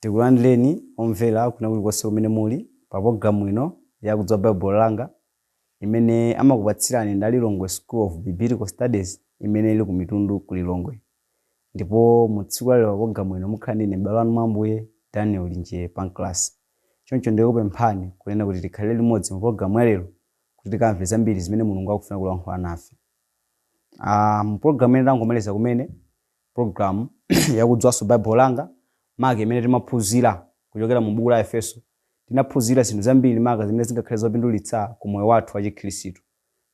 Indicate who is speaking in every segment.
Speaker 1: Tikulandireni omvera kwina kulikonse kumene muli pa pulogalamu ino ya Kudziwa Baibulo Langa imene amakupatsirani nda Lilongwe School of Biblical Studies imene ili ku Mitundu ku Lilongwe. Ndipo mu tsiku la lero pa pulogalamu ino mukhala ndi ine m'bale wanu mwa Ambuye Daniel Linjee Pancras. Choncho ndikupemphani kunena kuti tikhalire limodzi mu pulogalamu ya lero kuti tikamve zambiri zimene Mulungu akufuna kulankhula nafe. Aaa mu program imene tangomaliza kumene program yakudziwanso Bible langa maka imene timaphunzira kuchokera mu buku la Efeso tinaphunzira zinthu zambiri maka zimene zingakhale zopindulitsa ku moyo wathu wa chikhristu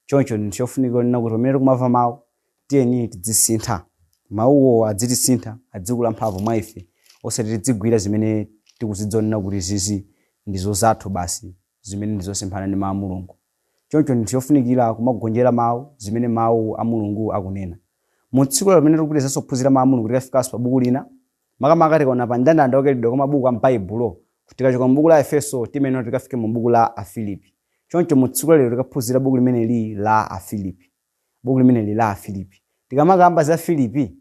Speaker 1: choncho ndi chofunika kunena kuti pamene tikumva mawu tiyeni tidzisintha mawuwo adzitisintha adzikula mphamvu mwa ife osati tidzigwira zimene tikudziwa zonena kuti izi ndizo zathu basi zimene ndizosemphana ndi mawu a Mulungu Choncho ndi chofunikira kumagonjera Mau zimene Mau a Mulungu akunena. Mu tsiku lero pamene tikupitirizaso kuphunzira Mau a Mulungu tikafikanso pa buku lina, makamaka tikaona pa mndandanda wa kaikidwe kwa mabuku a m'Baibulo, tikachoka mu buku la Aefeso timayenera kuti tikafike mu buku la Afilipi. Choncho mu tsiku la lero tikaphunzira buku limeneli la Afilipi. Buku limeneli la Afilipi. Tikamakamba za Filipi,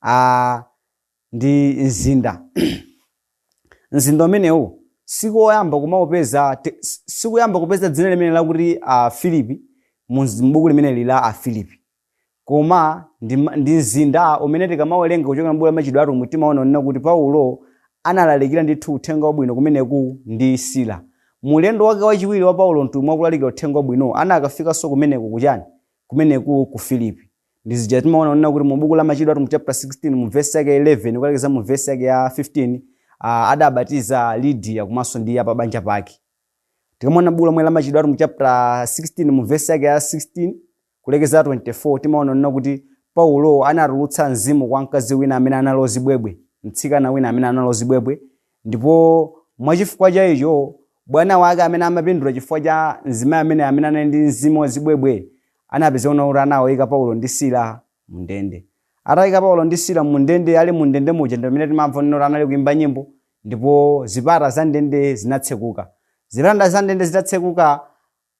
Speaker 1: aa. ndi mzinda mzinda umenewu sikoyamba kumaupeza te- s- sikuyamba kupeza dzina limeneli lakuti a filipi mu mz- m'buku limeneli la a filipi koma ndi, ma- ndi mzinda umene tikamawerenga kuchokera m'buku la machitidwe atumwi timaona kunena kuti paulo analalikira ndithu uthenga wabwino kumeneku ndi sila mu ulendo wake wachiwiri wa paulo mtumwi wakulalikira uthenga wabwino anakafikanso kumeneku kuchani kumeneku ku filipi Ndi zija timaona kunena kuti mu buku la Machitidwe Atumwi chapter 16 mu verse yake 11 kukalekeza mu verse yake ya 15 ah, adabatiza Lydia komanso ndi a pabanja pake. Tikamaona buku lomwe la Machitidwe Atumwi chapter 16 mu verse yake ya 16 kulekeza 24 timaona kunena kuti Paulo anatulutsa mzimu kwa mkazi wina amene anali wa zibwebwe, mtsikana wina amene anali ozibwebwe Ndipo mwa chifukwa cha icho, bwana wake amene amapindula chifukwa cha mzimayi ameneyo amene anali ndi mzimu wa zibwebwe, anapezeka kunena kuti anawayika Paulo ndi Sila mu ndende. Atayika Paulo ndi Sila mu ndende, ali mu ndende muja ndi pamene timamva kunena kuti anali kuyimba nyimbo, ndipo zipata za ndende zinatsekuka. Zipata za ndende zitatsekuka,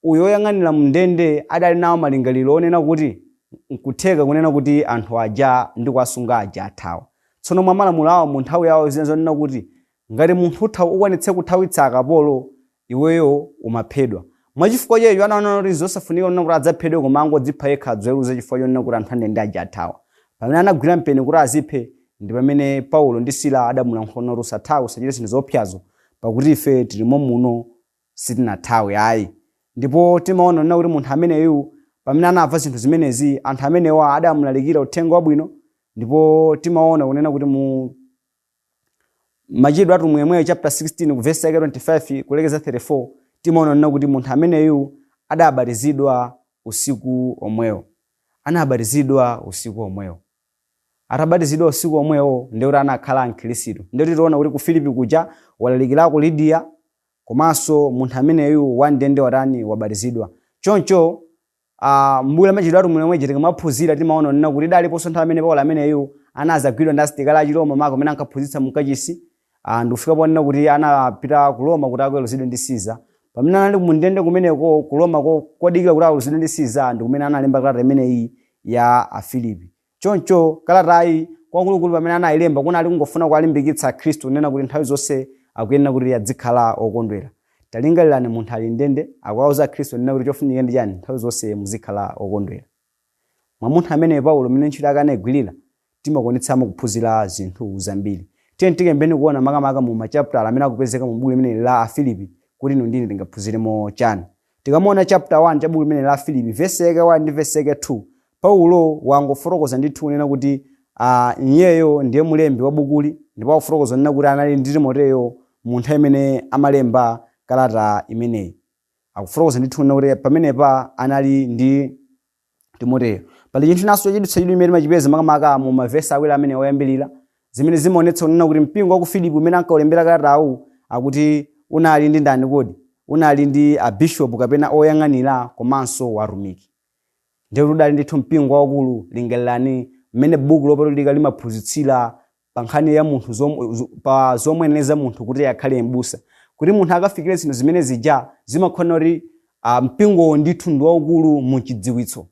Speaker 1: Uyo woyang'anira m'ndende adali nawo malingaliro onena kuti nkutheka kunena kuti anthu aja ndikuwasunga aja athawa. Tsono mwa malamulo awo mu nthawi yawo zinali zonena kuti ngati munthu uti ukwanitse kuthawitsa akapolo iweyo umaphedwa. Mwa chifukwa cha icho anaona kuti nzosafunika kunena kuti adzaphedwe koma angodzipha yekha adziweruze chifukwa chonena kuti anthu a ndende aja athawa. Pamene anagwira mpeni kuti aziphe ndi pamene Paulo ndi Sila adamulankhula nati usathawe usachite zinthu zoopsazo pakuti ife tili mommuno sitinathawe ayi. Ndipo timaona kunena kuti munthu ameneyu, pamene anamva zinthu zimenezi, anthu amenewa adamlalikira uthenga wabwino, ndipo timaona kunena kuti mu Machitidwe a Atumwi yemweyo chapter 16 ku verse yake 25 kulekeza 34 timaona kunena kuti munthu ameneyu adabatizidwa usiku omwewo, anabatizidwa usiku omwewo. Atabatizidwa usiku omwewo ndiye kuti anakhala Mkhirisitu. Ndiye kuti tiona kuti ku Filipi kuja walalikirako Lidiya, komanso munthu ameneyu wa ndende watani wabatizidwa choncho a m'buku la machitidwe a atumwi lomweli tikamaphunzira timaona kunena kuti inaliponso nthawi imene paulo ameneyu anazagwidwa ndi asilikali a chiroma maka pamene ankaphunzitsa mu kachisi ah, ndikufika ponena kuti anapita ku roma kuti akaweruzidwe ndi siza pamene anali mu ndende kumeneko ku roma ku- kudikira kuti aweruzidwe ndi siza ndi kumene analemba kalata imeneyi ya afilipi Choncho kalatayi kwakukulukulu pamene anailemba kunali kungofuna kuwalimbikitsa Akhristu kunena kuti nthawi zonse akuyenera kuti adzikhala okondwera. Talingalirani munthu ali m'ndende akuwauza Akhristu kunena kuti chofunika ndi chiyani? Nthawi zonse muzikhala okondwera. Mwa munthu ameneyu Paulo mmene ntchito yake anaigwirira, timakwanitsamo kuphunzira zinthu zambiri. Tiyeni tiyambeni kuona makamaka mu machaputala amene akupezeka mu buku limeneli la Afilipi kuti inu ndi ine tingaphunziremo chani. Tikamaona chapter 1 cha buku limeneli la Afilipi, vesi yake 1 ndi vesi yake 2, Paulo wangofotokoza ndithu kunena kuti ah, iyeyo ndiye mlembi wa bukuli ndipo akufotokoza kunena kuti anali ndi Timoteyo mu nthawi imene amalemba kalata imeneyi. Akufotokoza ndithu kunena kuti pamenepa anali ndi Timoteyo. Pali chinthu chinanso chochititsa chidwi chimene timachipeza makamaka mu mavesi awiri amenewa oyambirira, zimene zimaonetsa kunena kuti mpingo wa ku Filipi umene ankaulembera kalatawu akuti unali ndi ndani kodi? Unali ndi abishopu kapena oyang'anira komanso atumiki. Ndiye kuti udali ndithu mpingo waukulu, lingalirani mmene buku lopatulika limaphunzitsira pa nkhani ya munthu zom, zo, pa zomuyeneleza munthu kuti akhale m'busa kuti munthu akafikire zinthu zimene zija zimasonyeza kuti uh, mpingowo ndithu ndi waukulu mu chidziwitso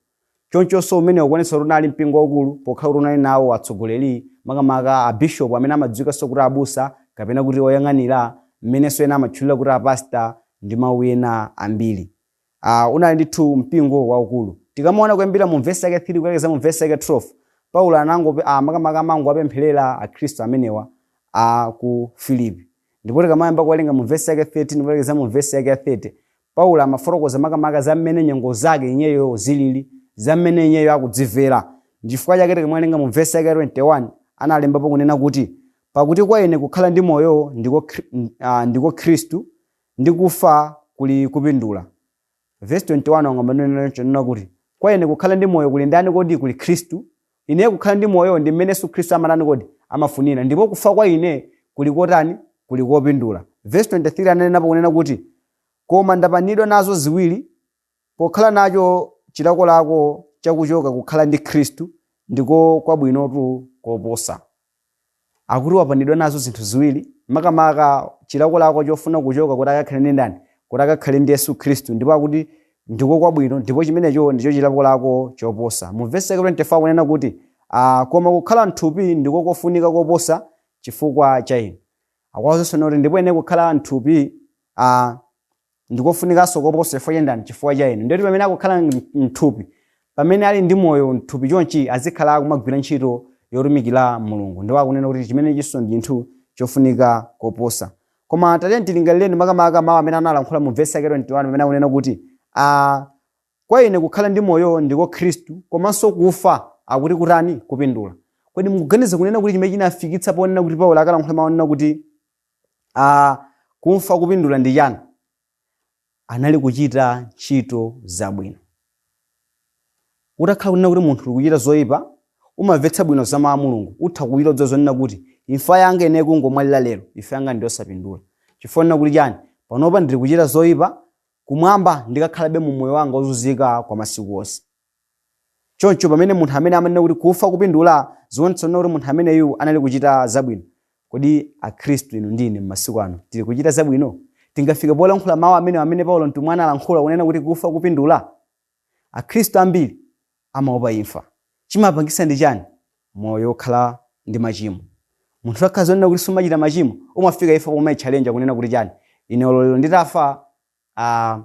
Speaker 1: chonchonso umene ukuonetsa kuti unali mpingo waukulu pokhala kuti unali nawo atsogoleri makamaka abishopu amene amadziwikanso kuti abusa kapena kuti oyang'anira mmenenso ena amatchulira kuti apasta ndi mawu ena ambiri a. Unali ndithu mpingo waukulu. Tikamaona kuyambira mu vesi yake 3 kulekeza mu vesi yake 12, Paulo anangope, a, makamaka amangowapempherera Akhristu amenewa a ku Filipi. Ndipo tikamayamba kuwerenga mu vesi yake 13 kulekeza mu vesi yake ya 30, Paulo amafotokoza makamaka za mmene nyengo zake iyeyo zilili, za mmene iyeyo akudzimvera. Nchifukwa chake tikamawerenga mu vesi yake ya 21, analembapo kunena kuti, Pakuti kwa ine kukhala ndi moyo ndiko, Khri- a, ndiko Khristu, Ndi kufa kuli kupindula. Vesi 21 wayamba kunena choncho, kunena kuti, Kwa ine kukhala ndi moyo kuli ndani kodi? Kuli Khristu. Ineyo kukhala ndi moyo ndi mmene Yesu Khristu amatani kodi? Amafunira. Ndipo kufa kwa ine kuli kotani? Kuli kopindula. Vesi 23 ananenapo kunena kuti, Koma ndapanidwa nazo ziwiri, Pokhala nacho chilakolako cha kuchoka kukhala ndi Khristu, ndiko kwabwinotu koposa. Akuti wapanidwa nazo zinthu ziwiri, makamaka chilakolako chofuna kuchoka kuti akakhale ndi ndani? Kuti akakhale ndi Yesu Khristu, ndipo akuti ndiko kwabwino, ndipo chimenecho ndicho chilakolako choposa. Mu vesi yake 24 akunena kuti, a, koma kukhala m'thupi ndiko kofunika koposa chifukwa cha inu. Akuwawuzanso kunena kuti ndipo ine kukhala m'thupi, a, ndikofunikanso koposa chifukwa cha ndani chifukwa cha inu ndiye kuti pamene akukhala mthupi pamene ali ndi moyo mthupi chonchi azikhala akumagwira ntchito yotumikira mulungu ndipo akunena kuti chimenechinso ndi chinthu chofunika koposa koma tatiyeni tilingalireni makamaka mawu amene analankhula mu vesi yake 21 pamene akunena kuti ah, kwa ine kukhala ndi moyo ndiko khristu komanso kufa akuti kutani kupindula kodi mukuganiza kunena kuti chimene chinafikitsa ponena kuti paulo akalankhula mawu onena kuti a kufa kupindula ndi chani? Anali kuchita ntchito zabwino. Utakhala kunena kuti munthu uli kuchita zoipa, umamvetsa bwino za mau a Mulungu, utha kuiloza zonena kuti imfa yanga ine kungomwalira lero, imfa yanga ndi yosapindula. Chifukwa chonena kuti chani? Panopa ndili kuchita zoipa, kumwamba ndikakhalabe mu moyo wanga wozunzika kwa masiku onse. Choncho pamene munthu amene amanena kuti kufa kupindula zionetsa kunena kuti munthu ameneyu anali kuchita zabwino. Kodi Akhristu inu ndi ine m'masiku ano tili kuchita zabwino? Tingafike polankhula mawu amenewa amene Paulo mtumwi analankhula onena kuti kufa kupindula? Akhristu ambiri amaopa imfa. Chimapangitsa ndi chani? Moyo wokhala ndi machimo. Munthu utakhala zonena kuti sumachita machimo, umafika imfa pomaichalenja kunena kuti chani? Ine olo lero nditafa. a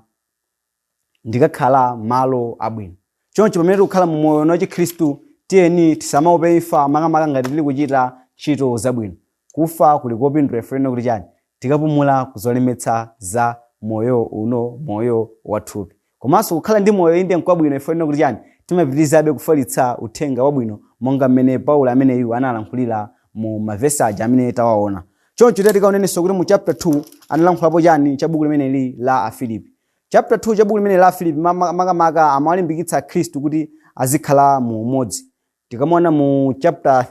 Speaker 1: ndikakhala malo abwino. Choncho pamene tikukhala mu moyo uno wachikhristu, tiyeni tisamaope imfa makamaka ngati tili kuchita ntchito zabwino. Kufa kuli kopindula chifukwa chonena kuti chani? Tikapumula ku zolemetsa za moyo uno, moyo wa thupi. Komanso kukhala ndi moyo inde nkwabwino chifukwa chonena kuti chani? Timapitirizabe kufalitsa uthenga wabwino monga mmene Paulo ameneyu analankhulira mu mavesi aja amene tawaona. Choncho tiyeni tikaonenso kuti mu chapter 2 analankhulapo chani cha buku limeneli la Afilipi. Chapter 2 cha buku limeneli la Afilipi ma- ma- makamaka amawalimbikitsa Akhristu kuti azikhala mu umodzi. Tikamaona mu chapter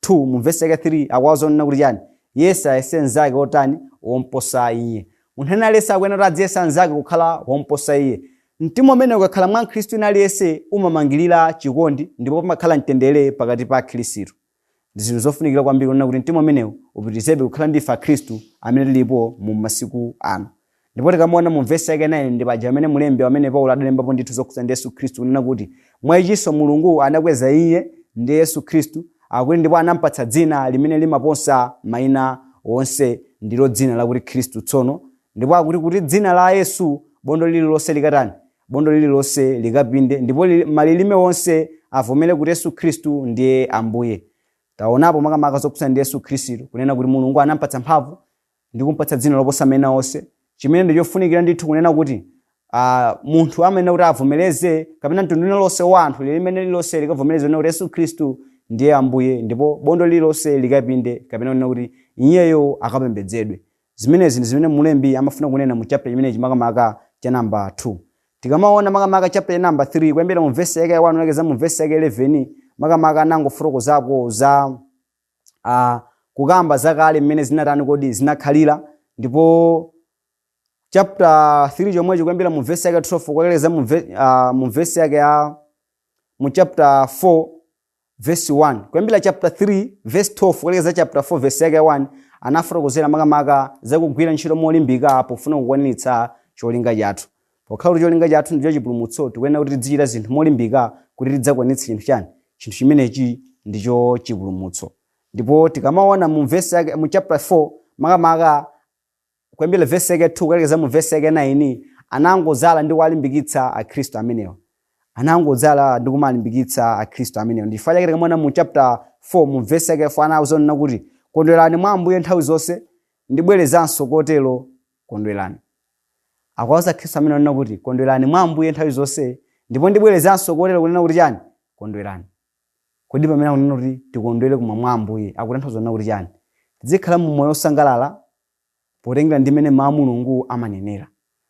Speaker 1: 2 mu vesi yake 3 akuwauza zonena kuti chani yense ayese mnzake wotani womposa iye munthu wina aliyense akuyenera kuti adziyesa mnzake kukhala womposa iye mtima umenewu ukakhala mwa mkhristu wina aliyense umamangirira chikondi ndipo pamakhala mtendere pakati pa akhristu Ndi zinthu zofunikira kwambiri kunena kuti mtima umenewu upitirizebe kukhala ndi ife Akhristu amene tilipo mu masiku ano. Ndipo tikamaona mu verse yake 9 ndi paja pamene mlembi amene Paulo adalembapo ndithu zokhudzana ndi Yesu Khristu kunena kuti mwa ichinso Mulungu anakweza iye ndiye Yesu Khristu akuti ndipo anampatsa dzina limene limaposa maina onse ndilo dzina lakuti Khristu tsono ndipo akuti kuti dzina la Yesu bondo lililonse likatani Bondo lililonse likapinde ndipo malilime onse avomere kuti Yesu Khristu ndiye Ambuye. Taonapo makamaka zokhudzana ndi Yesu Khristu kunena kuti Mulungu anampatsa mphamvu ndi kumpatsa dzina loposa maina onse. Chimene ndi chofunikira ndithu kunena kuti ah, munthu amayenera kuti avomereze kapena mtundu uliwonse wa anthu lilime lililonse likavomereze kunena kuti Yesu Khristu ndiye Ambuye ndipo bondo lililonse likapinde kapena kunena kuti iyeyo akapembedzedwe. Zimenezi ndi zimene mlembi amafuna kunena mu chapter chimenechi makamaka cha number 2. Tikamaona makamaka chapter cha number 3 kuyambira mu verse yake ya 1 kulekeza mu verse yake 11 makamaka anangofotokozapo za a kukamba zakale mmene zinatani kodi zinakhalira ndipo chapter 3 chomwecho kuyambira mu verse yake 12 kukalekeza mu ve- ah, mu verse yake ya mu chapter 4 Verse 1, Kuyambira chapter 3 verse 12 kulekeza chapter 4 verse yake ya 1, anafotokozera makamaka za kugwira ntchito molimbika pofuna kukwaniritsa cholinga chathu. Pokhala kuti cholinga chathu ndicho chipulumutso, tikuyenera kuti tizichita zinthu molimbika kuti tidzakwanitse chinthu chani? Chinthu chimenechi ndicho chipulumutso. Ndipo tikamaona mu verse yake mu chapter 4 makamaka kuyambira verse yake 2 kulekeza mu verse yake 9 anangodzala ndi kuwalimbikitsa akhristu amenewa anangodzala ndi kumalimbikitsa akhristu amenewa ndi chifukwa chake tikamaona mu chapter 4 mu verse yake 4 anawauza kunena kuti kondwerani mwa ambuye nthawi zonse ndibwerezanso kotero kondwerani akuwauza akhristu amenewa kunena kuti kondwerani mwa ambuye nthawi zonse ndipo ndibwerezanso kotero kunena kuti chani kondwerani Kodi pamene akunena kuti tikondwere koma mwa Ambuye akutanthauza kunena kuti chani? Tizikhala mu moyo osangalala potengera ndi mmene mau a Mulungu amanenera.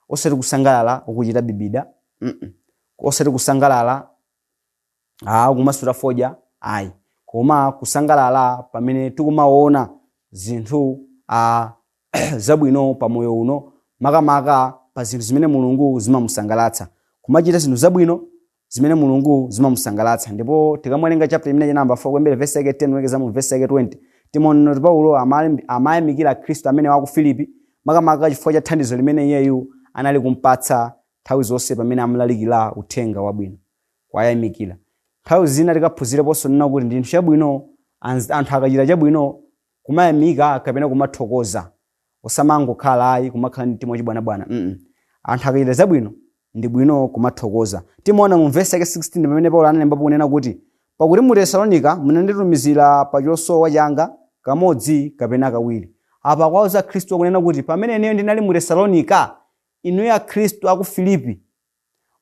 Speaker 1: Osati kusangalala ukuchita bibida mm osati kusangalala aah ukumasuta fodya ayi koma kusangalala pamene tikumaona zinthu aah zabwino pa moyo uno makamaka pa zinthu zimene Mulungu zimamusangalatsa. Kumachita zinthu zabwino zimene Mulungu zimamusangalatsa. Ndipo tikamawerenga chapter imeneyi namba 4 kuyambira verse yake 10 kulekeza mu verse yake 20, timaona kuti Paulo amalimbi- amayamikira Akhristu amenewa aku Filipi makamaka chifukwa cha thandizo limene iyeyu anali kumpatsa nthawi zonse pamene amalalikira uthenga wabwino. Kuwayamikira. Nthawi zina tikaphunzireponso kunena kuti ndi chinthu chabwino anz- anthu akachita chabwino kumayamika kapena kumathokoza. osamangokhala ayi kumakhala ndi mtima wachibwanabwana mm anthu akachita zabwino ndi bwino kumathokoza timaona mu vesi yake 16 pamene paulo analembapo kunena kuti pakuti mu tesalonika munanditumizira pa chosowa changa kamodzi kapena kawiri apa akuwauza akhristu kunena kuti pamene ineyo ndinali mu tesalonika inuyo akhristu aku filipi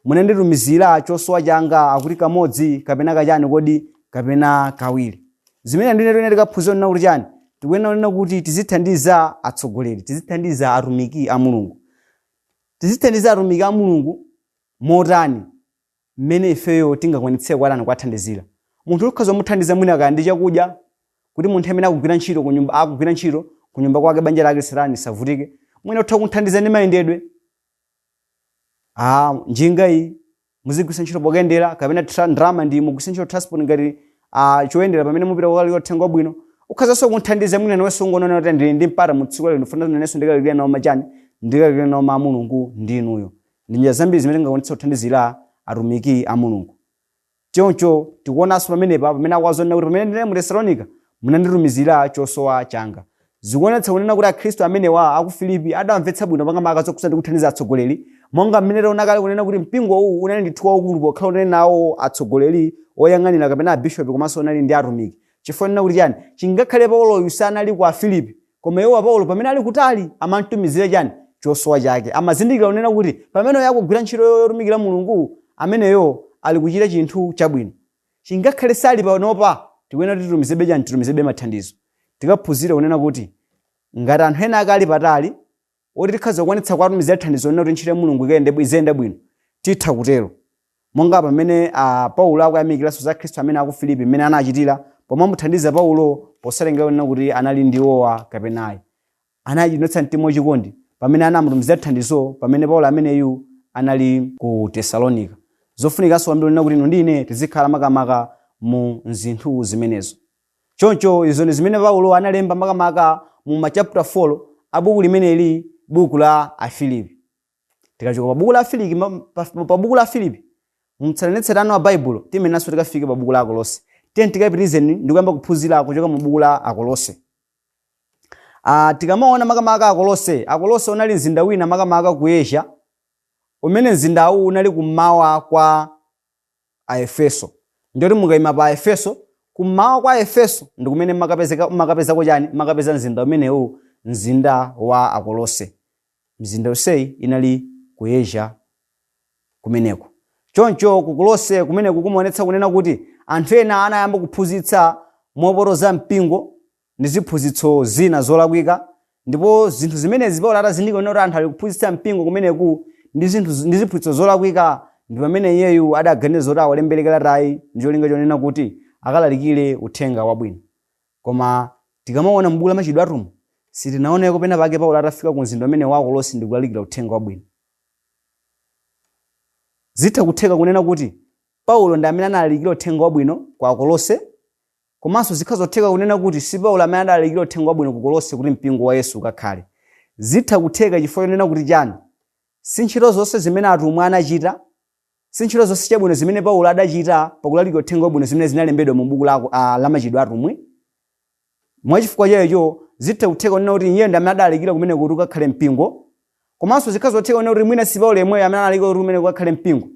Speaker 1: munanditumizira chosowa changa akuti kamodzi kapena kachani kodi kapena kawiri zimene ndiye tikuyenera tikaphunzire kunena kuti chani tikuyenera kunena kuti tizithandiza atsogoleri tizithandiza atumiki a mulungu tizithandiza atumiki a mulungu motani mmene ifeyo tingakwanitsire kuwatani kuwathandizira munthu ukhoza kumuthandiza mwina kaya ndi chakudya kuti munthu amene akugwira ntchito ku nyumba akugwira ntchito ku nyumba kwake banja lake lisatani lisavutike mwina utha kumuthandiza ndi mayendedwe Ah, njinga iyi muzigwiritsa ntchito pokayendera kapena tra- ndalama iyi mugwiritsa ntchito transport ngati ah, choyendera pamene mupita kukalalika uthenga wabwino ukhazanso kumthandiza mwina nawenso ungonena kuti ndili ndi mpata mu tsiku lero ndifuna nanenso ndikalalikire nawo machani ndikalalikire nawo mawu a mulungu ndi inuyo ndi njira zambiri zimene tingakwanitse kuthandizira atumiki a mulungu Choncho tikuonanso pamenepa pamene akuwauza kunena kuti pamene ndinali mu Tesalonika munanditumizira chosowa changa. Zikuonetsa kunena kuti akhristu amenewa aku Filipi adamvetsa bwino makamaka zokhudzana ndi kuthandiza atsogoleri monga mmene taona kale kunena kuti mpingo uwu unali ndithu waukulu pokhala unali nawo atsogoleri, oyang'anira kapena abishopi komanso unali ndi atumiki. Chifukwa chonena kuti chani? Chingakhale Pauloyu sanali ku Afilipi, koma iwo a Paulo pamene ali kutali amamtumizira chani? Chosowa chake. Amazindikira kunena kuti pamene uyo akugwira ntchito yo yotumikira Mulungu, ameneyo ali kuchita chinthu chabwino. Chingakhale sali panopa, tikuyenera kuti titumizebe chani? Titumizebe mathandizo. Tikaphunzire kunena kuti ngati anthu ena akali patali, oti tikhaza kukwanitsa kuwatumizira thandizo kunena kuti ntchito ya Mulungu ikayende bwi- iziyenda bwino, titha kutero. Monga pamene a Paulo akuyamikiranso za akhristu amenewa aku Filipi mmene anachitira pomamuthandiza Paulo posatengera kunena kuti anali ndi iwowa kapena ayi. Anaonetsa mtima wachikondi pamene anamutumizira thandizo pamene Paulo ameneyu anali ku Tesalonika. Zofunikanso kwambiri kunena kuti inu ndi ine tizikhala makamaka mu zinthu zimenezo. Choncho izo ndi zimene Paulo analemba makamaka mu machaputa 4 a buku limeneli, buku la Afilipi. Tikachoka pa buku la Afiliki, ma- pa, pa buku la Afilipi, mtsatanetsatane wa Baibulo tiyeneranso tikafike pa buku la Akolose. Tiyeni tikapitirizeni ndi kuyamba kuphunzira kuchoka mu buku la Akolose. Ah, tikamaona makamaka Akolose, Akolose unali mzinda wina makamaka ku Asia, umene mzindawu unali kummawa kwa Aefeso. Ndiye kuti mukaima pa Aefeso, kummawa kwa Aefeso ndi kumene mmakapezeka mmakapezako chani? Mmakapeza mzinda umenewu, mzinda wa Akolose. Mizinda yonseyi inali ku Asia kumeneko. Choncho ku Kolose kumeneku kumaonetsa kunena kuti anthu ena anayamba kuphunzitsa mopotoza mpingo ndi ziphunzitso zina zolakwika, ndipo zinthu zimenezi Paulo atazindikira kuti anthu ali kuphunzitsa mpingo kumeneku ndi zinthu ndi ziphunzitso zolakwika, ndi pamene iyeyu adaganiza zoti awalembere kalatayi ndi cholinga chonena kuti akalalikire uthenga wabwino. Koma tikamaona m'buku la Machitidwe a Atumwi, sitinaoneko pena pake Paulo atafika ku mzinda umenewu wa Kolose ndi kulalikira uthenga wabwino. Zitha kutheka kunena kuti Paulo ndi amene analalikira uthenga wabwino kwa Akolose Komanso zitha kutheka kunena kuti si Paulo amene adalalikira uthenga wabwino ku Kolose kuti mpingo wa Yesu ukakhale. Zitha kutheka chifukwa chonena kuti chani? Si ntchito zonse zimene atumwi anachita? Si ntchito zonse chabwino zimene Paulo adachita pakulalikira uthenga wabwino zimene zinalembedwa mu buku la a la Machitidwe a Atumwi? Mwachifukwa cha icho, zitha kutheka kunena kuti iyeyo ndi amene adalalikira kumeneko kuti ukakhale mpingo Komanso zitha kutheka kunena kuti mwina si Paulo yemweyo amene analalika kuti kumeneko kukakhale mpingo.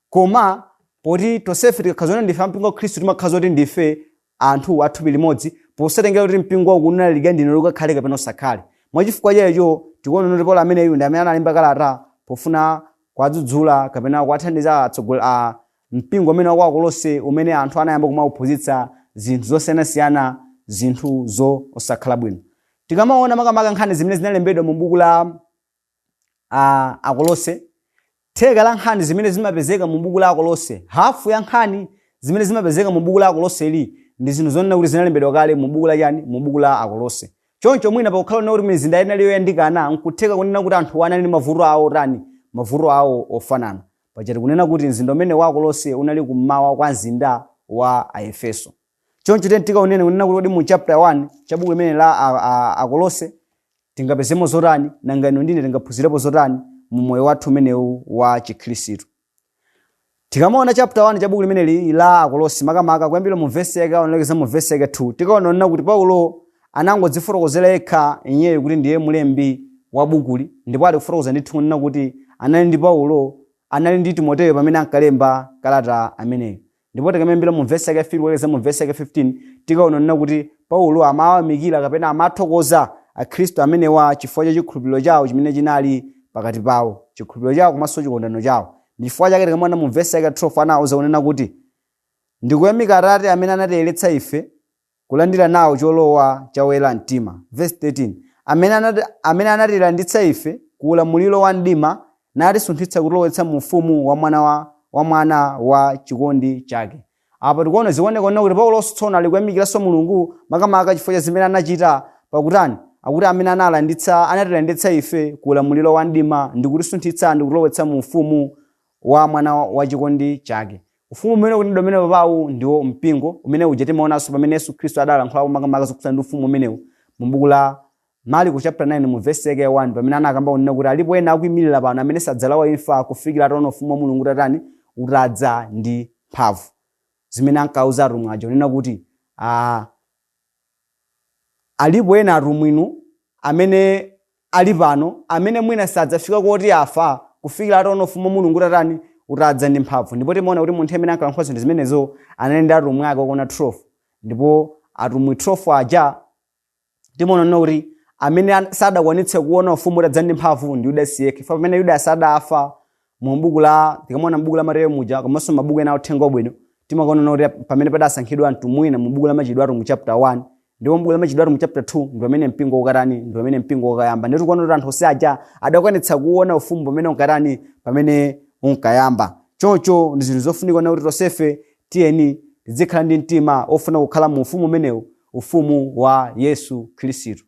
Speaker 1: Koma poti tonsefe tikakhala zonena ndife a mpingo wa Khristu timakhala kuti ndife anthu a thupi limodzi posatengera kuti mpingo uku unalalika ndine kuti ukakhale kapena usakhale. Mwa chifukwa cha icho tikuona kuti Paulo ameneyu ndi amene analemba kalata pofuna kuwadzudzula kapena kuwathandiza atsogoleri a Mpingo umene wa ku Akolose umene anthu anayamba kumauphunzitsa zinthu zosiyanasiyana, zinthu zo osakhala bwino. Tikamaona makamaka nkhani zimene zinalembedwa mu buku la a Akolose, theka la nkhani zimene zimapezeka mu buku la Akolose, hafu ya nkhani zimene zimapezeka mu buku la Akoloseli ndi zinthu zonena kuti zinalembedwa kale mu buku la chani, mu buku la Akolose. Choncho mwina pakukhala kunena kuti mizinda ina inali yoyandikana, n'kutheka kunena kuti anthuwa anali ndi mavuto awo otani, mavuto awo ofanana. Paja tikunena kuti mzinda umene wa Akolose unali kum'mawa kwa mzinda wa Aefeso. Choncho tiyeni tikaoneni kunena kuti kodi mu chapter 1 cha buku limene la a, a, Akolose tingapezemo zotani, nanga inu ndine tingaphunzirepo zotani mu moyo wathu umenewu wa Chikhristu. Tikamaona chapter 1 cha buku limeneli la Akolose makamaka kuyambira mu verse yake ya 1 kulekeza mu verse yake 2 tikuona kunena kuti Paulo anangodzifotokozera yekha iyeyu kuti ndiye mlembi wa bukuli ndipo ali kufotokoza ndithu kunena kuti anali ndi Paulo, anali ndi Timoteyo pamene ankalemba kalata ameneyo. Ndipo tikayambira mu vesi yake ya 3 kulekeza mu vesi yake ya 15 tikaona kunena kuti Paulo amawayamikira kapena amathokoza Akhristu amenewa chifukwa cha chikhulupiriro chawo chimene chinali pakati pawo, chikhulupiriro chawo komanso chikondano chawo. Ndi chifukwa chake tikamaona mu vesi yake ya 12 anawauza kunena kuti, Ndi kuyamika Atate amene anatiyeneretsa ife kulandira nawo cholowa cha oyera mtima, vesi 13, amene anati, amene anatilanditsa ife ku ulamuliro wa mdima, natisunthitsa kutilowetsa mu ufumu wa mwana wa wa mwana wa chikondi chake. Apa tikuona zikuoneka kunena kuti Pauloso tsono ali kuyamikiranso Mulungu makamaka chifukwa cha zimene anachita pakutani akuti amene analanditsa anatilanditsa ife ku ulamuliro wa mdima ndikutisunthitsa ndikutilowetsa mu ufumu wa Mwana wa chikondi Chake. Ufumu umene ukunenedwa pamenepawu ndiwo Mpingo umene uja timaonanso pamene Yesu Khristu adalankhulapo makamaka zokhudzana ndi Ufumu umenewu mu Buku la Marko chapter 9 mu vesi yake ya 1 pamene anakamba kunena kuti alipo ena akuimilira pano amene sadzalawa imfa kufikira ataona Ufumu wa Mulungu utatani utadza ndi mphamvu zimene ankauza atumwi aja kunena kuti ah, Alipo ena atumwi inu amene ali pano, amene mwina sadzafika koti afa kufikira ataona Ufumu wa Mulungu utatani, utadza ndi mphamvu. Ndipo timaona kuti munthu amene ankalankhula zinthu zimenezo anali ndi atumwi ake okwana 12. Ndipo atumwi 12 aja, timaona kunena kuti amene an- sadakwanitse kuona Ufumu utadza ndi mphamvu ndi Yudasi yekha. Chifukwa pamene Yudasi adafa, mu buku la tikamaona mu buku la Mateyo muja komanso mabuku ena authenga wabwino timakaona kuti pamene padasankhidwa anthu mwina mu buku la machitidwe a atumwi chapter 1 ndipo mu buku la machitidwe a atumwi chapter 2 ndi pamene mpingo unkatani ndi pamene mpingo unkayamba ndipo tikuona kuti anthu onse aja adakwanitsa kuona ufumu pamene unkatani pamene unkayamba choncho ndi zinthu zofunika kunena kuti tonsefe tiyeni tizikhala ndi mtima ofuna kukhala mu ufumu umenewu ufumu wa yesu khristu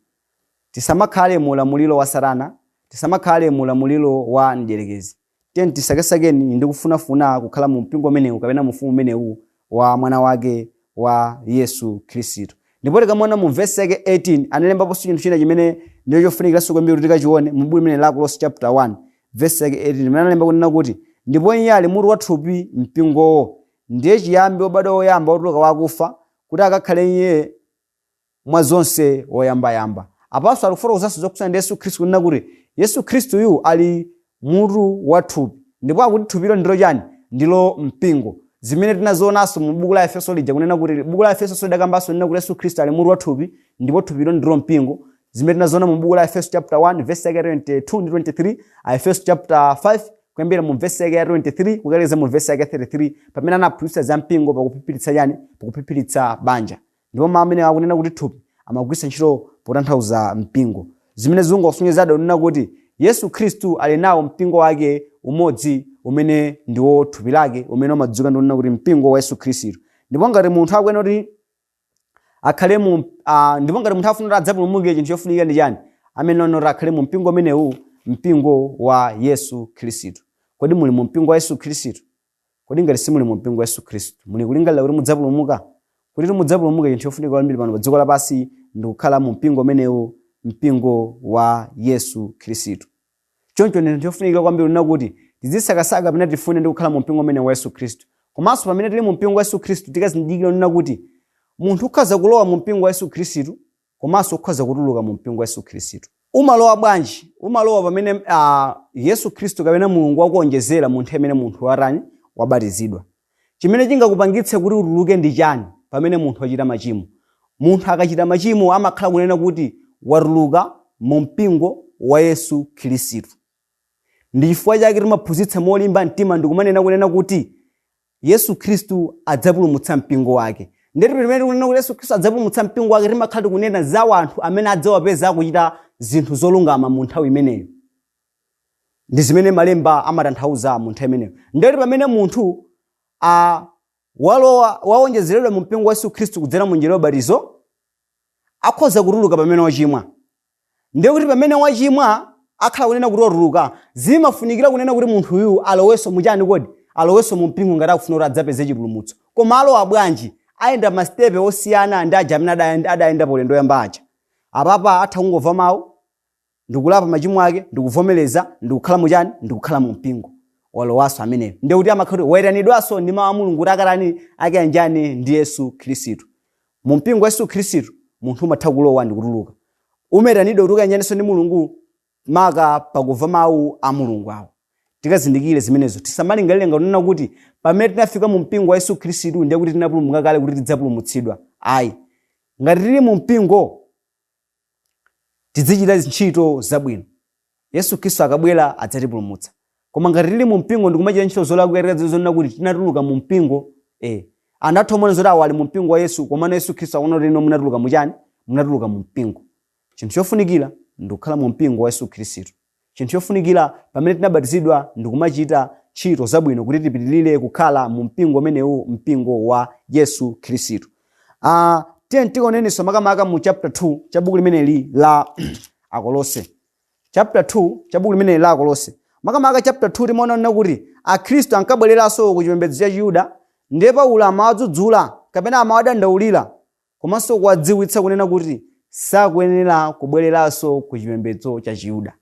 Speaker 1: Tisamakhale mu ulamuliro wa Satana. Tisamakhale mu ulamuliro wa mdierekezi. Tiyeni tisakesakeni ndi kufunafuna kukhala mu mpingo umenewu kapena mu ufumu umenewu wa mwana wake wa Yesu Khristu. Ndipo tikamaona mu vesi yake 18 analembaponso chinthu china chimene ndicho chofunikiranso kwambiri kuti tikachione mu buku limeneli la Akolose chapter 1 vesi yake 18 imene analemba kunena kuti ndipo iye ali mutu wa thupi mpingowo ndiye chiyambi wobadwa woyamba wotuluka wa akufa kuti akakhale iye mwa zonse woyambayamba. Apanso ali kufotokozanso zokhudzana ndi Yesu Khristu kunena kuti Yesu Khristuyu ali mutu wa thupi. Ndipo akuti thupilo ndilo chani? Ndilo mpingo. Zimene tinazionanso mu buku la Aefeso lija kunena kuti buku la Aefeso lidakambanso kunena kuti Yesu Khristu ali mutu wa thupi ndipo thupilo ndilo mpingo. Zimene tinaziona mu buku la Aefeso chapter 1 verse yake ya 22 ndi 23, Aefeso chapter 5 kuyambira mu verse yake ya 23 kukalekeza mu verse yake ya 33 pamene anaphunzitsa za mpingo pakuphiphiritsa chani? Pakuphiphiritsa banja. Ndipo mawu amene akunena kuti thupi amagwiritsa ntchito potanthauza mpingo, zimene zikungosonyezadi kunena kuti Yesu Khristu ali nawo mpingo wake umodzi umene ndiwo thupi lake umene umadziwika ndi kunena kuti mpingo wa Yesu Khristu. Ndipo ngati munthu akuyenera kuti akhale mu ah, ndipo ngati munthu afuna kuti adzapulumuke chinthu chofunikira ndi chani ameneyo nkunena kuti akhale mu mpingo umenewu mpingo wa Yesu Khristu. Kodi muli mu mpingo wa Yesu Khristu? Kodi ngati simuli mu mpingo wa Yesu Khristu, muli kulingalira kuti mudzapulumuka? Kutitu mudzapulumuke, chinthu chofunika kwambiri pano pa dziko lapansi ndi kukhala mu mpingo umenewu, mpingo wa Yesu Khristu. Choncho ndi zinthu zofunikira kwambiri kunena kuti tizisakasaka kapena tifune ndi kukhala mu mpingo umenewu wa Yesu Khristu. Komanso pamene tili mu mpingo wa Yesu Khristu tikazindikire kunena kuti munthu ukhoza kulowa mu mpingo wa Yesu Khristu komanso ukhoza kutuluka mu mpingo wa Yesu Khristu. Umalowa bwanji? Umalowa pamene Yesu Khristu kapena Mulungu wakuonjezera mu nthawi imene munthu watani wabatizidwa. Chimene chingakupangitse kuti utuluke ndi chani pamene munthu wachita machimo? Munthu akachita machimo amakhala kunena kuti watuluka mu mpingo wa Yesu Khristu. Ndi chifukwa chake timaphunzitsa molimba mtima ndikumanena kunena kuti Yesu Khristu adzapulumutsa mpingo wake. Ndiye kuti pamene tikunena kuti Yesu Khristu adzapulumutsa mpingo wake timakhala tikunena za anthu amene adzawapeza akuchita zinthu zolungama mu nthawi imeneyo. Ndi zimene malemba amatanthauza mu nthawi imeneyo. Ndiye kuti pamene munthu walowa wawonjezeredwa mu mpingo wa Yesu Khristu kudzera mu njira ya ubatizo, akhoza kutuluka pamene wachimwa. Ndiye kuti pamene wachimwa akhala kunena kuti watuluka, zimafunikira kunena kuti munthu uyu alowenso mu chani kodi? Alowenso mu mpingo ngati akufuna kuti adzapeze chipulumutso. Koma alowa bwanji? Ayenda ma stepe osiyana ndi aja amene adayenda, adayenda pa ulendo oyamba aja. Apapa atha kungomva mau, ndikulapa machimo ake, ndikuvomereza, ndikukhala mu chani? Ndikukhala mu mpingo. Walowanso ameneyo. Ndiye kuti amakhala kuti waitanidwanso ndi mau a Mulungu kuti akatani? Akayanjane ndi Yesu Khristu. Mu mpingo wa Yesu Khristu, munthu umatha kulowa ndi kutuluka. Umaitanidwa kuti ukayanjanenso ndi Mulungu maka pakumva mau a Mulungu awa. Tikazindikire zimenezo. Tisamalingalire ngati kunena kuti pamene tinafika mu mpingo wa Yesu Khristu ndiye kuti tinapulumuka kale kuti tidzapulumutsidwa. Ayi. Ngati tili mu mpingo. Tidzichita ntchito zabwino. Yesu Khristu akabwera adzatipulumutsa. Koma ngati tili mu mpingo ndi kumachita ntchito zolakwika tikadziwe zonena kuti tinatuluka mu mpingo, eh, anzathu amaona zoti awa ali mu mpingo wa Yesu, komano Yesu Khristu akuona kuti inu munatuluka mu chani? Munatuluka mu mpingo. Chinthu chofunikira ndi kukhala mu mpingo wa Yesu Khristu. Chinthu chofunikira pamene tinabatizidwa ndikumachita ntchito zabwino kuti tipitilire kukhala mu mpingo umenewu mpingo wa Yesu Khristu. Uh, ah, tiye tikaonenso makamaka mu chapter 2 cha buku limeneli la Akolose. Chapter 2 cha buku limeneli la Akolose. Makamaka chapter 2 timaona kunena kuti Akhristu ankabwereranso ku chipembedzo cha Chiyuda ndiye Paulo amawadzudzula kapena amawadandaulira komanso kuwadziwitsa kunena kuti sakuyenera kubwereranso ku chipembedzo cha Chiyuda.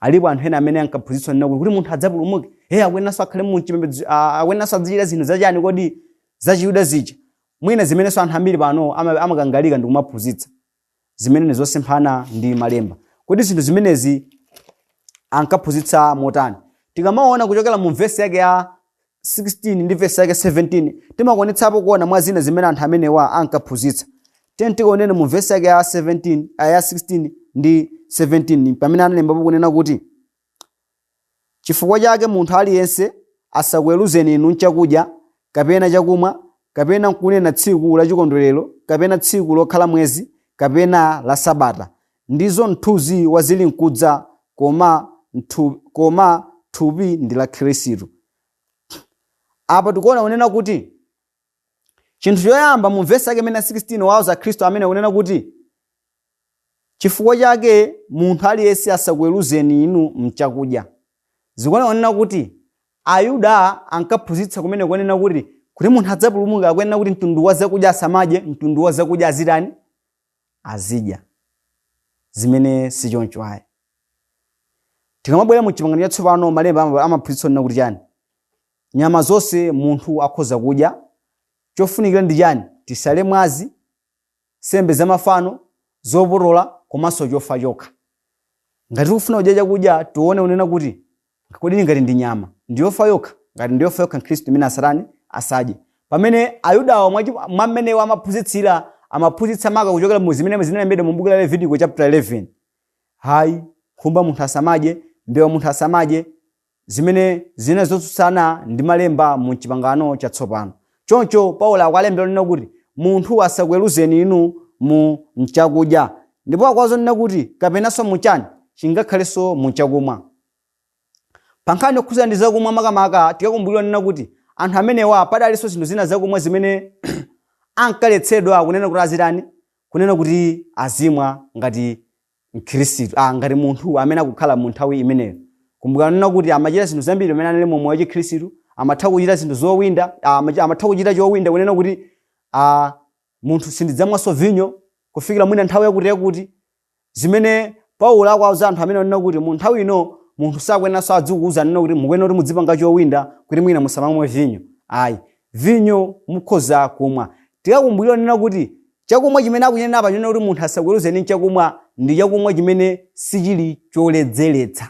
Speaker 1: Alipo anthu ena amene ankaphunzitsa kunena kuti kuti munthu adzapulumuke, hey, akuyeneranso akhale mu chipembedzo, ah, akuyeneranso azichita zinthu zachani kodi za Chiyuda zija. Mwina zimenenso anthu ambiri pano ama- amakangalika ndi kumaphunzitsa. zimene ndi zosemphana ndi malemba kodi zinthu zimenezi ankaphunzitsa motani tikamaona kuchokera mu vesi yake ya 16 ndi vesi yake 17 timakwanitsapo kuona mwa zina zimene anthu amenewa ankaphunzitsa tiyeni tikaone mu vesi yake ya 17 ah, ya 16 ndi 17 pamene analembapo kunena kuti Chifukwa chake munthu aliyense asakuweruzeni inu m'chakudya, kapena chakumwa, kapena m'kunena tsiku lachikondwerero, kapena tsiku lokhala mwezi, kapena la Sabata, ndizo mthunzi wa zilinkudza, koma thupi ndi la Khristu. Apa tikuona kunena kuti chinthu choyamba mu vesi yake imene 16 wauza Akhristu amene kunena kuti. Chifukwa chake munthu aliyense asakuweruzeni inu m'chakudya. Zikuoneka kunena kuti Ayuda ankaphunzitsa kumene kunena kuti, kuti munthu adzapulumuke akuyenera kuti mtundu wa zakudya asamadye, mtundu wa zakudya azitani? Azidya. Zimene si choncho ayi. Tikamabwera mu Chipangano Chatsopano, Malemba ama- amaphunzitsa kunena kuti chani? Nyama zonse munthu akhoza kudya. Chofunikira ndi chani? Tisale mwazi. nsembe za mafano, zopotola komanso chofa chokha. Ngati tikufuna kudya chakudya, tione kunena kuti, kodi ngati ndi nyama, ndi yofa yokha? Ngati ndi yofa yokha Mkhristu imeneyo asatani? Asadye. Pamene Ayudawa mwa chi- mwa mmene amaphunzitsira, amaphunzitsa maka kuchokera mu zimene zinalembedwa mu buku la Levitiko chapter 11. Hayi, nkhumba munthu asamadye, mbewa munthu asamadye, zimene zinali zotsutsana ndi malemba mu Chipangano Chatsopano. Choncho, Paulo akuwalembera kunena kuti, Munthu asakuweruzeni inu mu m'chakudya. Ndipo akuwauza kunena kuti, kapenanso mu chani? chingakhalenso mu chakumwa. Pa nkhani yokhudzana ndi zakumwa makamaka, tikakumbukira kunena kuti anthu amenewa padalinso zinthu zina zakumwa zimene ankaletsedwa kunena kuti azitani? kunena kuti azimwa ngati Mkhristu. a. Ngati munthu amene akukhala mu nthawi imeneyo. Kumbukirani kunena kuti amachita zinthu zambiri pamene anali mu moyo wa chikhristu, amatha kuchita zinthu zowinda, a. amachita, amatha kuchita chowinda kunena kuti, a. munthu sindidzamwanso vinyo kufikira mwina nthawi yakuti yakuti, zimene Paulo akuwauza anthu amenewa kunena kuti mu nthawi ino munthu sakuyeneranso adzikuuza kunena kuti mukuyenera kuti mudzipanga chowinda kuti mwina musamamwe vinyo. Ayi. Vinyo mukhoza kumwa. Tikakumbukira kunena kuti chakumwa chimene akuchinena apa chonena kuti munthu asakuweruzeni m'chakumwa ndi chakumwa chimene sichili choledzeretsa.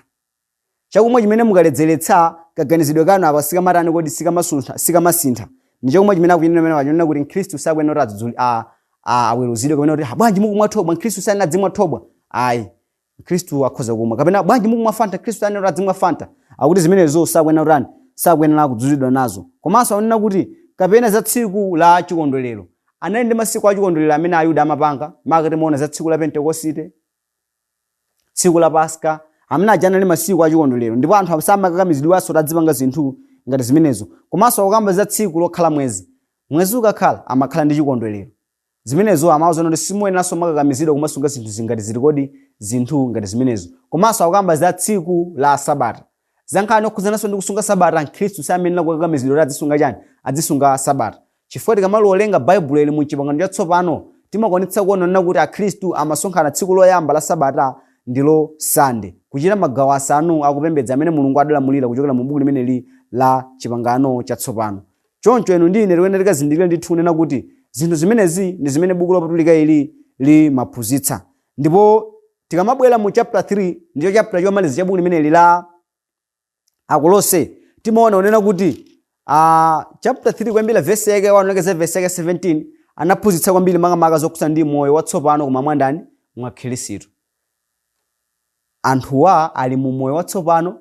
Speaker 1: Chakumwa chimene mukaledzeretsa kaganizidwe kanu apa sikamatani kodi sikamasuntha sikamasintha. Ndi chakumwa chimene akuchinena pamenepa chonena kuti mkhristu sakuyenera kuti adzudzuli a a aweruzidwe kapena kuti ha bwanji mukumwa thobwa mkhristu samayenera adzimwa thobwa ayi. Mkhristu akhoza kumwa. Kapena bwanji mukumwa Fanta? Mkhristu sayenera kuti adzimwa Fanta. Akuti zimenezo sakuyenera kutani? Sakuyenera kudzudzulidwa nazo. Komanso akunena kuti kapena za tsiku la chikondwerero. Anali ndi masiku a chikondwerero amene Ayuda amapanga, maka tikamaona za tsiku la Pentekosite, tsiku la Paska, amene aja anali masiku a chikondwerero. Ndipo anthu samakakamizidwanso kuti adzipanga zinthu ngati zimenezo. Komanso akukamba za tsiku lokhala mwezi. Mwezi ukakhala, amakhala ndi chikondwerero. zimenezo amauzana kuti simuyeneranso kumakakamizidwa kumasunga zinthu zinthu ngati ziti kodi zinthu ngati zimenezo komanso akukamba za tsiku la sabata za nkhani yokhudzananso ndi kusunga sabata mkhristu samayenera kukakamizidwa kuti adzisunga chani adzisunga sabata chifukwa tikamawerenga baibulo ili mu chipangano chatsopano timakwanitsa kuona kuti akhristu amasonkhana tsiku loyamba la sabata ndilo sande kuchita magawo asanu akupembedza amene mulungu adalamulira kuchokera mu buku limeneli la chipangano chatsopano Choncho inu ndi ine tikuyenera tikazindikire ndithu kunena kuti zinthu zimenezi ndi zimene buku lopatulika ili limaphunzitsa. Ndipo tikamabwera mu chapter 3, ndicho chapter chomaliza cha buku limeneli la Akolose, timaona kunena kuti uh, chapter 3 kuyambira vesi yake 1 kulekeza vesi yake 17 anaphunzitsa kwambiri makamaka zokhudzana ndi moyo watsopano koma mwandani mwa Khristu. Anthuwa ali mu moyo watsopano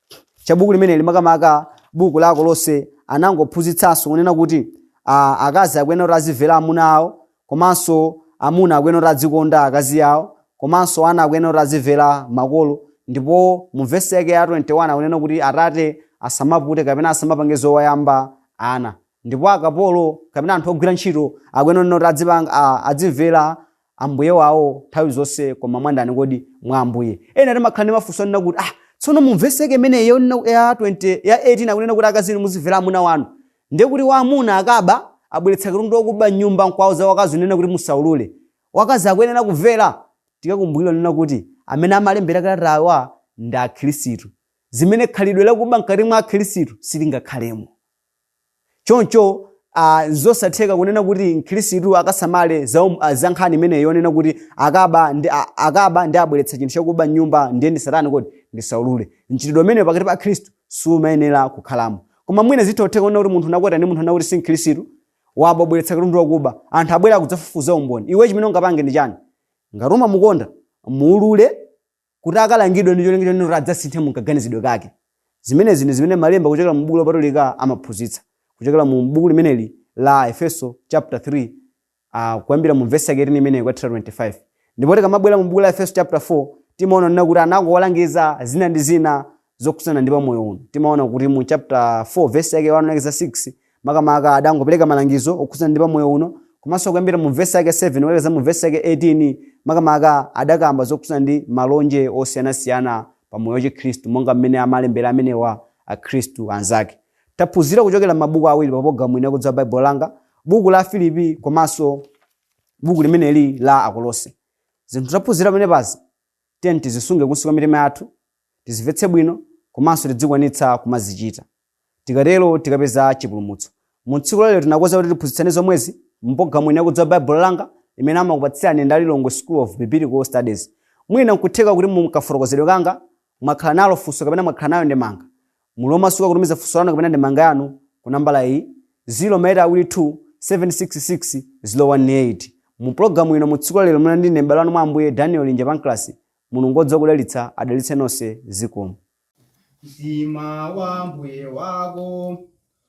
Speaker 1: cha buku limeneli makamaka buku la akolose anangophunzitsanso kunena kuti a, akazi akuyenera kuti azimvera amuna awo komanso amuna akuyenera kuti adzikonda akazi awo komanso ana akuyenera kuti azimvera makolo ndipo mu vesi yake ya 21 akunena kuti atate asamapute kapena asamapange zowaputa ana ndipo akapolo kapena anthu ogwira ntchito akuyenera kuti adzipanga- a- adzimvera Ambuye wawo nthawi zonse koma mwandani kodi? Mwa Ambuye. Ena timakhala ndi mafunso onena kuti, ah, tsono mu vesi yake imeneyi yonena ya 20 ya 18 akunena kuti akazi inu muzimvera amuna wanu. Ndiye kuti wamuna akaba, abweretsa katundu wakuba m'nyumba n'kuwauza wakazi kunena kuti musaulule. Wakazi akuyenera kumvera? Tikakumbukira kunena kuti amene amalembera kalatawa ndi Akhristu. Zimene khalidwe lakuba mkati mwa Akhristu silingakhalemo. Choncho, a, n'zosatheka kunena kuti Mkhristu akasamalire za, um, a, za nkhani imeneyi yonena kuti akaba ndi, a, akaba ndi abweretsa chinthu chakuba m'nyumba ndiye ndisatani kodi? Ndisaulule. Mchitidwe umenewu pakati pa Akhristu sumayenera kukhalamo. Koma mwina zitha kutheka kunena kuti munthu unakwatira ndi munthu onena kuti si Mkhristu, waba wabweretsa katundu wakuba. Anthu abwera kudzafufuza umboni. Iwe chimene ungapange ndi chani? Ngati umamukonda, muulule. kuti akalangidwe ndi cholinga chonena kuti adzasinthe mu kaganizidwe kake. Zimenezi ndi zimene Malemba kuchokera mu Buku Lopatulika amaphunzitsa. Kuchokera mu buku limeneli la Aefeso chapter 3 ah, kuyambira mu vesi yake 18 imeneyo kukathera 25. Ndipo tikamabwera mu buku la Aefeso chapter 4 timaona nena kuti anakuwalangiza zina ndi zina zokhudzana ndi pamoyo uno timaona kuti mu chapter 4 verse yake 1 lekeza 6 makamaka adangopereka malangizo okhudzana ndi pamoyo uno komanso kuyambira mu verse yake 7 kulekeza mu verse yake 18 makamaka adakamba zokhudzana ndi malonje osiyanasiyana pamoyo wa chikhristu monga mmene amalembera amenewa akhristu anzake taphunzira kuchokera m'mabuku awiri pa programu ino ya kudziwa baibulo langa buku la afilipi komanso buku limeneli la akolose zinthu taphunzira pamene pazi Tiyeni tizisunge kunsi kwa mitima yathu, tizimvetse bwino komanso tidzikwanitsa kumazichita. Tikatero tikapeza chipulumutso. Mu tsiku la lero tinakonza kuti tiphunzitsane zomwezi mu pulogalamu ino yakudziwa Baibulo langa imene amakupatsirani ndi a Lilongwe School of Biblical Studies. Mwina nkutheka kuti mu kafotokozedwe kanga mwakhala nalo funso kapena mwakhala nayo ndemanga. Muli omasuka kutumiza funso lanu kapena ndemanga yanu ku nambala iyi, 0 maeyiti awiri 2 766 018. Mu pulogalamu ino mu tsiku la lero munali ndi ine m'bale wanu mwa Ambuye Daniel Linja Pancras. Mulungu wodziwa kudalitsa adalitse nonse zikomo. Mtima
Speaker 2: wa Mbuye wako